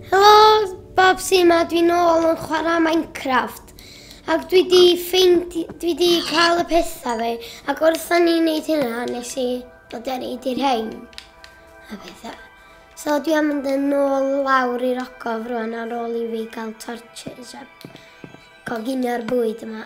Helo, bob sy'n ma, dwi'n ôl yn chwarae Minecraft. Ac dwi di ffeind, dwi di cael y pethau fi, ac wrth o'n i'n neud hynna, nes i dod ar eid i'r hein. A pethau. So dwi am mynd yn ôl lawr i'r ogof rwan ar ôl i fi gael torches a coginio'r bwyd yma.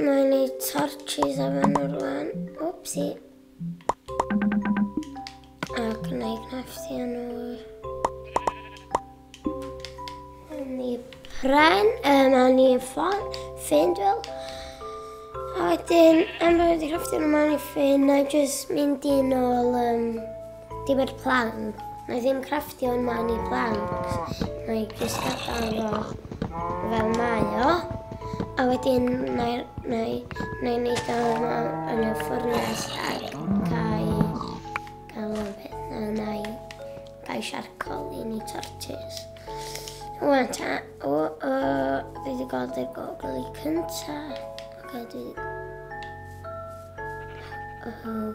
Mae'n ei torches a fan o'r lan. Oopsie. Ac na i gnaffti yn ôl. Yn i pren, um, a ni yn ffon, ffyn dwi'n. A wedyn, am bod wedi cnaffti nhw ma'n i ffyn, na i just mynd i'n ôl, um, Dim i'r plant. Mae ddim crafftio yn man i blant. Mae jyst gadael fo fel mae o. A wedyn mae mae mae ni gael yn y ffwrnes a cael cael y peth yna i gael siarcol i ni torches. Wan ta, o, o, fi wedi gweld y gogl i cynta. Ac a dwi... Oh.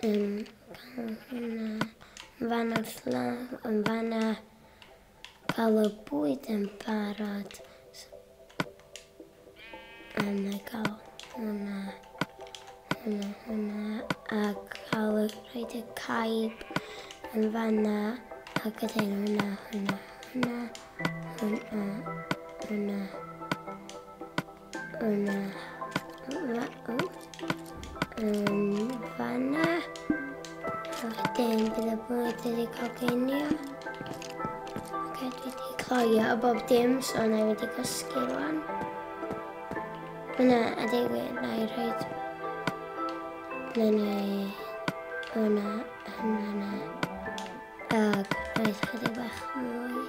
Yn fan'na, yn fan'na llaw, yn fan'na cael y bwyd yn barod. A mae cael hwnna, hwnna, hwnna, a cael y rhaid y caib yn fan'na, a gyda'n hwnna, hwnna, hwnna, hwnna, hwnna. Yna. Yna. Yn fanna. Wedyn bydd y bwyd wedi coginio. Ok, dwi wedi cloio o bob dim, so na i wedi cysgu rwan. Yna, a digwyd, na i rhaid. Na na i. Yna, yna, yna. Ag, rhaid chydig bach mwy.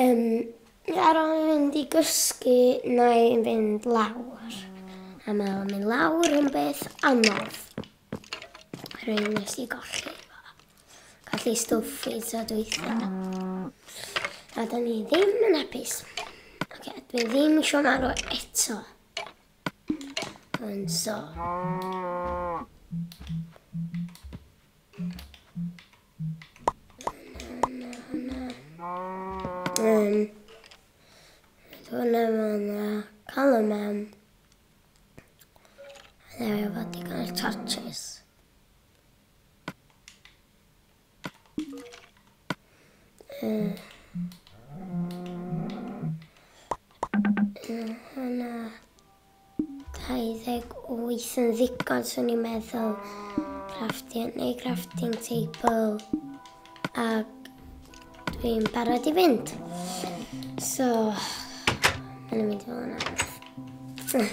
Yym, ar ôl i fynd i gysgu, na i fynd lawr. A mae o'n mynd lawr yn beth anodd. Rwy'n nes i golli fo. Golli stwff i so dweitha. A da ni ddim yn hapus. Oce, okay, dwi ddim eisiau marw eto. Yn so. Um, Dyna fanna, cael y mam. Dyna fe fod i gael torches. Uh, uh, 28 yn ddigon swn i'n meddwl. Crafftio neu crafting table ac dwi'n barod i fynd. So, yn y mynd i fel yna.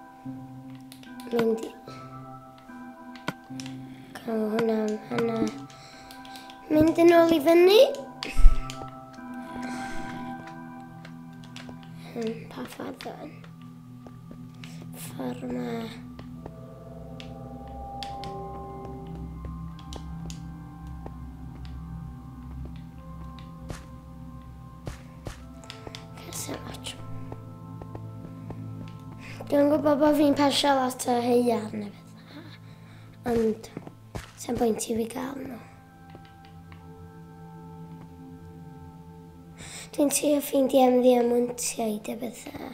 mynd i... Cael hwnna am hynna. Mynd yn ôl i fyny. Yn pa ffordd o'n? Ffordd ma. Thanks so much. Dwi'n gwybod bod fi'n pasio lot o heiar neu beth ond sy'n bwynt i fi gael nhw. Dwi'n trio ffeindio am ddiamontiaid a bethau.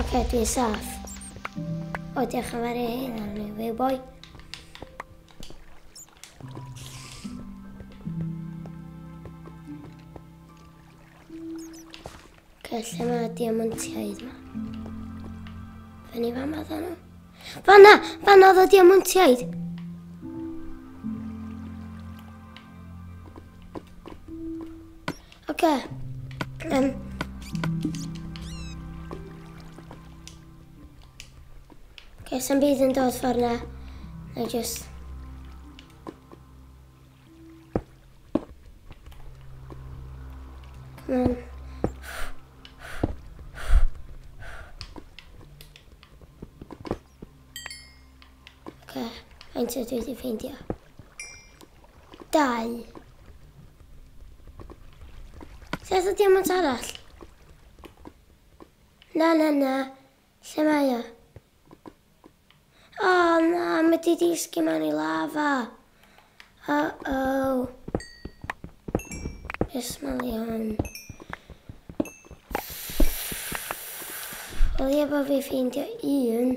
Ok, dwi'n saff. O, diolch am ar ei hyn am ni, weu boi. Ok, lle mae diamantiaid ma? Fyny fan ma dda nhw. Fanna! Fanna oedd y diamantiaid! Oce. Okay. Um. Okay, sy'n byd yn dod ffordd na. Na just... Come on. Oce, faint o dwi wedi ffeindio? Dau. Sef y diamant arall? Na, na, na. Lle mae o? O, na, mae di disgyn mewn i lava. Uh-oh. Dwi'n smelio hwn. O ie bod fi ffeindio un.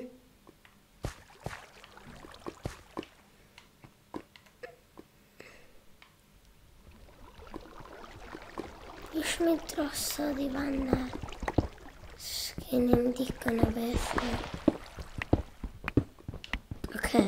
Wish mi drosodd i fanna. Sgyn i'n digon o beth. Oce, okay,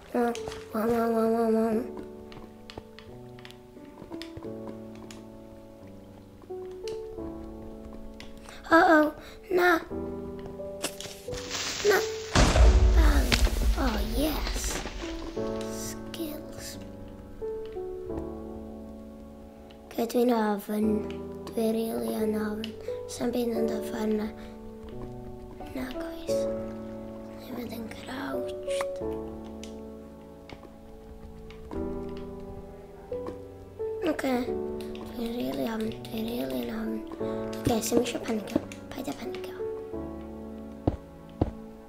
Uh-oh, na. Na. Um, oh, yes. Skills. Dwi dwi'n ofn, dwi rili yn ofn. Sam byd yn dod ffordd na. Nag oes. Dwi'n mynd yn grouched. Oce. Okay. Dwi'n rili ofn, dwi'n rili yn ofn. Oce, okay, sy'n eisiau panicio. Paid â panicio.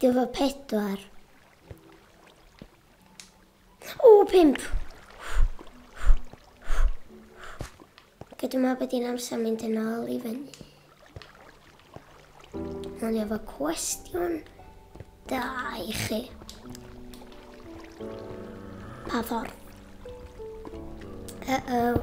Dyfa pedwar. O! Pump! Ok, dwi'n meddwl bod hi'n amser mynd yn ôl i fyny. Ond ni efo cwestiwn da i chi. Pa ffordd? Uh-oh.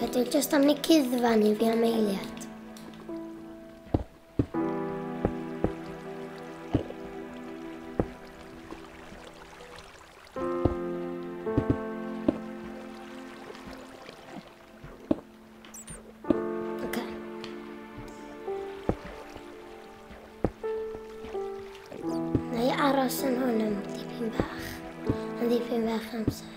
Cadw just am ni cyddfa ni fi am eiliad. aros yn hwn am ddipyn bach, am ddipyn bach amser.